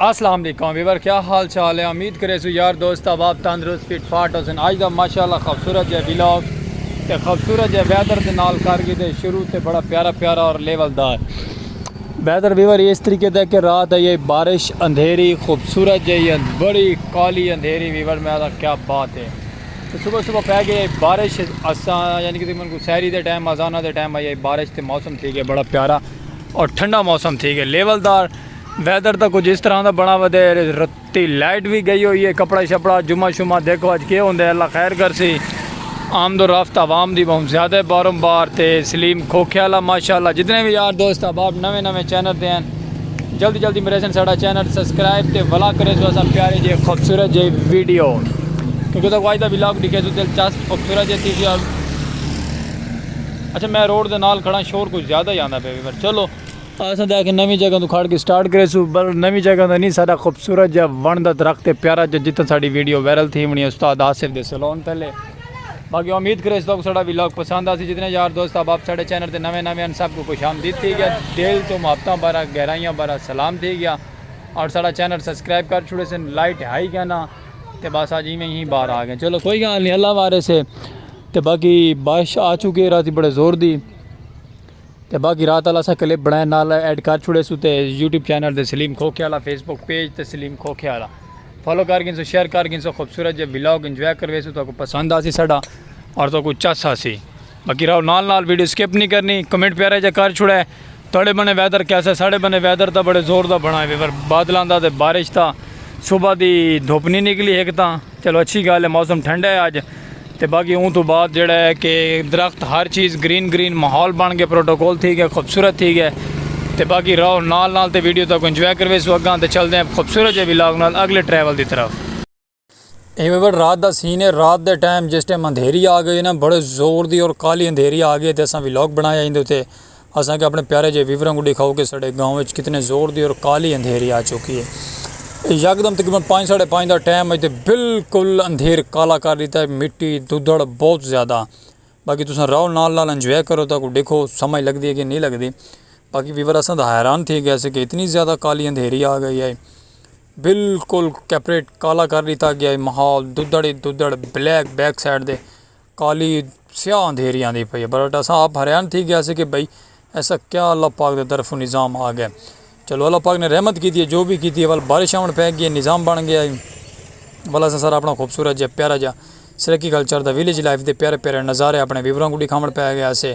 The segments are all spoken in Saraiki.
السلام علیکم ویور کیا حال چال ہے امید کرے سو یار دوست آپ تندرست فٹ فاٹ ہو سن آج دا ماشاءاللہ خوبصورت جے ویلوگ تے خوبصورت جے ویدر دے نال کر گئے دے شروع تے بڑا پیارا پیارا اور لیول دار ویدر ویور اس طریقے دا کہ رات آئی آئی بارش اندھیری خوبصورت جائی اند بڑی کالی اندھیری ویور میں آتا کیا بات ہے تو صبح صبح پہ گئی آئی بارش اساں یعنی کہ تقریباً کو سہری دے ٹائم آزانہ دے ٹائم آئی آئی بارش تے موسم تھی گیا بڑا پیارا اور ٹھنڈا موسم تھی گیا لیول دار ویدر دا کچھ اس طرح دا بنا ودے تے لائٹ وی گئی ہوئی ہے کپڑا شپڑا جمعہ شمعہ دیکھو اج کے ہوندے اللہ خیر کرسی آمد و رفت عوام دی بہوں زیادہ بارم بار تے سلیم کھوکھے والا ماشاءاللہ جتنے وی یار دوست احباب نویں نویں چینل تے ہیں جلدی جلدی میرے سن ساڑا چینل سبسکرائب تے ولا کرے سو اساں پیارے جے خوبصورت جے ویڈیو کیونکہ تو واجدہ ولاگ ڈکھے سو دلچسپ خوبصورت جے تھی اچھا میں روڈ دے نال کھڑا شور کچھ زیادہ ہی آندا پہ پر چلو اساں تے آکھیے نویں جگہ توں کھڑ کے سٹارٹ کریسوں پر نویں جگہ دا نی ساڈا خوبصورت جا ونڑ دا درخت ہے پیارا جا جتھاں ساڈی ویڈیو وائرل تھی ونڑی ہے استاد آصف دے سیلون تھلے باقی امید کریس تہاکوں ساڈا ولاگ پسند آسی جتنے یار دوست احباب ساڈے چینل تے نویں نویں ہن سب کوں خوش آمدید تھی گیا دل توں محبتاں بھرا گہرائیاں بھرا سلام تھی گیا اور ساڈا چینل سبسکرائب کر چھوڑے سن لائٹ ہائی گیا نا تے بس اج ایویں ہی باہر آ گئے چلو کوئی گال نہیں اللہ وارث ہے تے باقی بارش آ چکی ہے راتی بڑے زور دی تے باقی رات آلا اساں کلپ بنڑائے نال ایڈ کر چھوڑے سو تے یوٹیوب چینل تے سلیم کھوکھے آلا فیس بک پیج تے سلیم کھوکھے آلا فالو کر گھنسو شیئر کر گھنسو خوبصورت جے ولاگ انجوائے کروے سو تاکو پسند آسی ساڈا اور تاکو چس آسی باقی راو نال نال ویڈیو سکپ نہیں کرنی کمنٹ پیارا جا کر چھوڑے تڑے بنے ویدر کیسا ساڈے بنے ویدر تا بڑے زور دا بنا ہے بادلاں دا تے بارش تا صبح دی دھوپ نہیں نکلی ایک تا چلو اچھی گال ہے موسم ٹھنڈا ہے اج تے باقی اوں توں بعد جیڑھا ہے کہ درخت ہر چیز گرین گرین ماحول بن گئے پروٹوکول تھی گئے خوبصورت تھی گئے تے باقی رہو نال نال تے ویڈیو تاکوں انجوائے کرویسو اگاں تے چلدے ہیں خوبصورت جے ولاگ نال اگلے ٹریول دی طرف۔ اے ویور رات دا سین ہے رات دے ٹائم جس ٹائم اندھیری آ گئی نا بڑے زور دی اور کالی اندھیری آ گئی تے اساں ولاگ بنایا ایندے اتے اساں کے اپنے پیارے جے ویوراں کوں ڈیکھاؤ کے ساڈے گاؤں وچ کتنے زور دی اور کالی اندھیری آ چکی ہے۔ اے یکدم تقریبا پنج ساڈے پنج دا ٹائم ہے تے بالکل اندھیر کالا کر ڈیتا ہے مٹی دودھڑ بہت زیادہ باقی تساں راؤ نال نال انجوائے کرو تاں کو ڈیکھو سمجھ لگ دی ہے کے نہیں لگ دی باقی ویور اساں تاں حیران تھی گئے سے کے اتنی زیادہ کالی اندھیری آ گئی ہے بالکل کیپریٹ کالا کر ڈیتا گیا ہے ماحول دودھڑ ہی دودھڑ بلیک بیک سائڈ دے۔ کالی سیاہ اندھیری آندی پئی ہے بٹ اساں آپ حیران تھی گیا سے کہ بھئی ایسا کیا اللہ پاک دے طرف نظام آ گیا چلو اللہ پاک نے رحمت کیتی ہے جو بھی کیتی ہے ول بارش آون پے گی ہے نظام بن گیا ہے ول اساں سارا اپنا خوبصورت جا پیارا جا سرکی کلچر دا ویلیج لائف دے پیارے پیارے نظارے اپنے ویوراں کو ڈکھاون پے گیا سے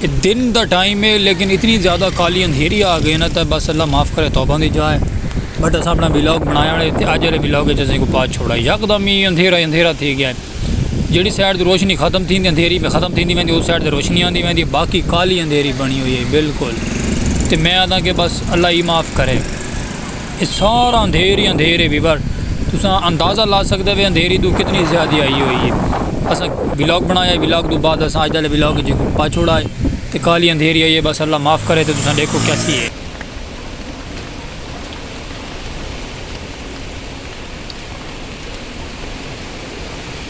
اے دن دا ٹائم ہے لیکن اتنی زیادہ کالی اندھیری آ گئے نا تے بس اللہ معاف کرے توبہ دی جا ہے بٹ اساں اپنا ولاگ بنایا ہے تے اج والے ولاگ وچ اساں کو پا چھوڑا ہے یکدم ہی اندھیرا اندھیرا تھی گیا ہے جیڑی سائیڈ تے روشنی ختم تھی تے اندھیری پہ ختم تھیندی ویندی اس سائیڈ تے روشنی آندی ویندی باقی کالی اندھیری بنی ہوئی ہے بالکل تے میں آنداں کہ بس اللہ ہی معاف کرے۔ اے سارا اندھیر ہی اندھیر ہے ویور تساں اندازہ لا سکدے وے اندھیری توں کتنی زیادہ آئی ہوئی ہے اساں ولاگ بنایا ہے ولاگ توں بعد اساں اج دے ولاگ جی کو پا چھوڑا ہے تے کالی اندھیری آئی ہے بس اللہ معاف کرے تے تساں ڈیکھو کیا تھی ہے۔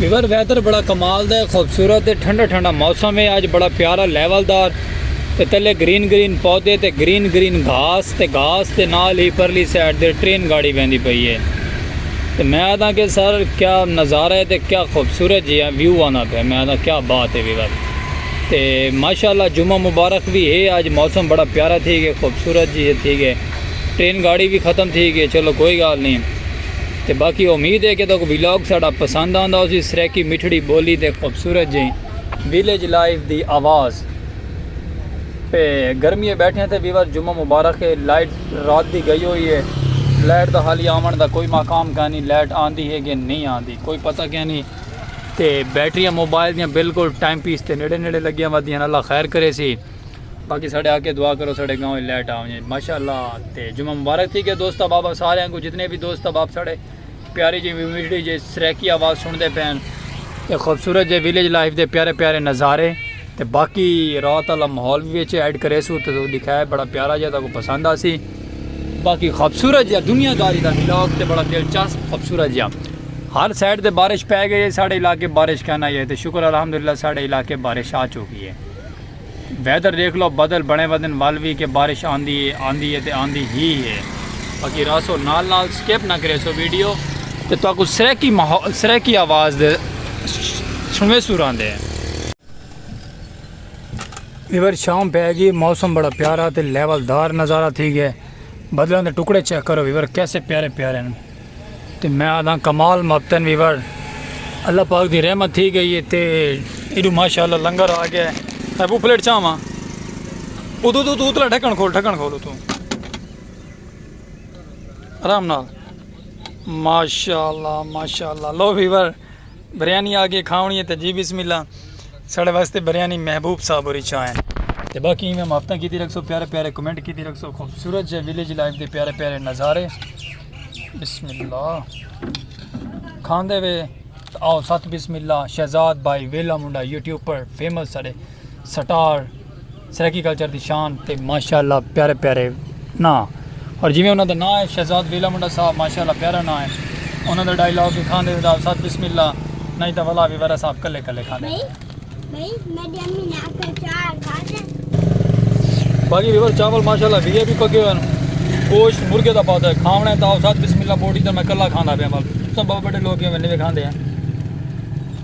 ویور ویدر بڑا کمال دا ہے خوبصورت ہے ٹھنڈا ٹھنڈا موسم ہے آج بڑا پیارا لیول دار تے تلے گرین گرین پودے تے گرین گرین گھاس تے گھاس تے نال ہی پرلی سائیڈ دے ٹرین گاڑی ویندی پئی ہے تے میں آدھا کہ سر کیا نظارہ ہے تے کیا خوبصورت جی ہے ویو آنا پہ میں آدھا کیا بات ہے ویور تے ماشاءاللہ جمعہ مبارک بھی ہے آج موسم بڑا پیارا تھی گئے خوبصورت جی ہے تھی گئے ٹرین گاڑی وی ختم تھی گئی چلو کوئی گال نہیں تے باقی امید ہے کہ تکو ویلاگ ساڑا پسند آندا اسی سریکی مٹھڑی بولی تے خوبصورت جی ویلیج لائف دی آواز پہ گرمی بیٹھے ہیں تے ویور جمعہ مبارک ہے لائٹ رات دی گئی ہوئی ہے لائٹ دا حالی آمن دا کوئی مقام کہاں نہیں لائٹ آندی ہے کہ نہیں آندی کوئی پتہ کہاں نہیں تے بیٹریاں موبائل دیاں بالکل ٹائم پیس تے نیڑے نیڑے لگیاں ودیاں اللہ خیر کرے سی باقی ساڑے آکے دعا کرو ساڑے گاؤں ہی لیٹ آؤں جی ماشاءاللہ تے جمعہ مبارک تھی کہ دوستہ بابا سارے ہیں کو جتنے بھی دوستہ باب ساڑے پیاری جی ویڈیو جی سریکی آواز سن دے پین تے خوبصورت جی ویلیج لائف دے پیارے پیارے نظارے تے باقی رات اللہ محول بھی اچھے ایڈ کرے سو تے دکھائے بڑا پیارا جی تا کو پسند آسی باقی خوبصورت جی دنیا داری دا ویلوگ تے بڑا دلچسپ خوبصورت جی ہر سائڈ تے بارش پہ گئی ہے ساڑے علاقے بارش کہنا یہ تے شکر الحمدللہ ساڑے علاقے بارش آ چکی ہے ویدر ڈیکھ لو بدل بنے ودن ول وی کہ بارش آندی اے آندی اے تے آندی ہی اے باقی رہسو نال نال سکپ نہ کریسو ویڈیو تے تہاکوں سرائیکی ماحول سرائیکی آواز دے سنویسو راندے ہیں۔ ویور شام پے گی موسم بڑا پیارا تے لیول دار نظارہ تھی گئے بدلاں دے ٹکڑے چیک کرو ویور کیسے پیارے پیارے ہیں۔ تے میں آدھاں کمال مبتن ویور اللہ پاک دی رحمت تھی گئی ہے تے ایڈو ماشاءاللہ لنگر آ گیا ہے میں بو پلیٹ چاہواں ادو تو تو اتلا ڈھکن کھول ڈھکن کھول تو آرام نال ماشاءاللہ ماشاءاللہ لو ویور بریانی آگے کھاونی ہے تے جی بسم اللہ ساڑے واسطے بریانی محبوب صاحب ہوری چاہ ہیں تے باقی ہی میں مافتہ کیتی رکھ سو پیارے پیارے کمنٹ کیتی رکھ سو خوبصورت جے ویلیج لائف دے پیارے پیارے نظارے بسم اللہ کھان دے وے آؤ ساتھ بسم اللہ شہزاد بائی ویلا منڈا یوٹیوب پر فیمس ساڑے سٹار سرائیکی کلچر دی شان تے ماشاءاللہ پیارے پیارے ناں اور جیویں انہاں دا ناں ہے شہزاد ویلا منڈا صاحب ماشاءاللہ پیارا ناں ہے انہاں دا ڈائیلاگ ہی کھاندے ودا استاد بسم اللہ نہیں تاں ولا بھی ورا صاحب کلے کلے کھاندے بھائی میڈی امی نے آکھے چار کھاتے باقی ریور چاول ماشاءاللہ وی بھی پکے ہوئے ہیں گوشت مرغے دا پاتا ہے کھاونا ہے تاں استاد بسم اللہ بوٹی تے میں کلا کھاندا پیا مال سب بڑے لوگ ہیں میں نہیں کھاندے ہیں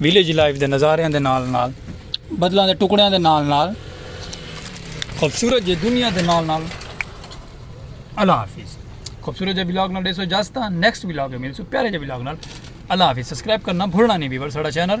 ویلیج لائف دے نظاریاں دے نال نال بدلاں دے ٹکڑیاں دے نال نال خوبصورت جے دنیا دے نال نال اللہ حافظ خوبصورت جے ولاگ نال ڈیسو جاستا نیکسٹ ولاگ ملسو پیارے جے ولاگ نال اللہ حافظ سبسکرائب کرنا بھولنا نہیں بھی بر ساڑا چینل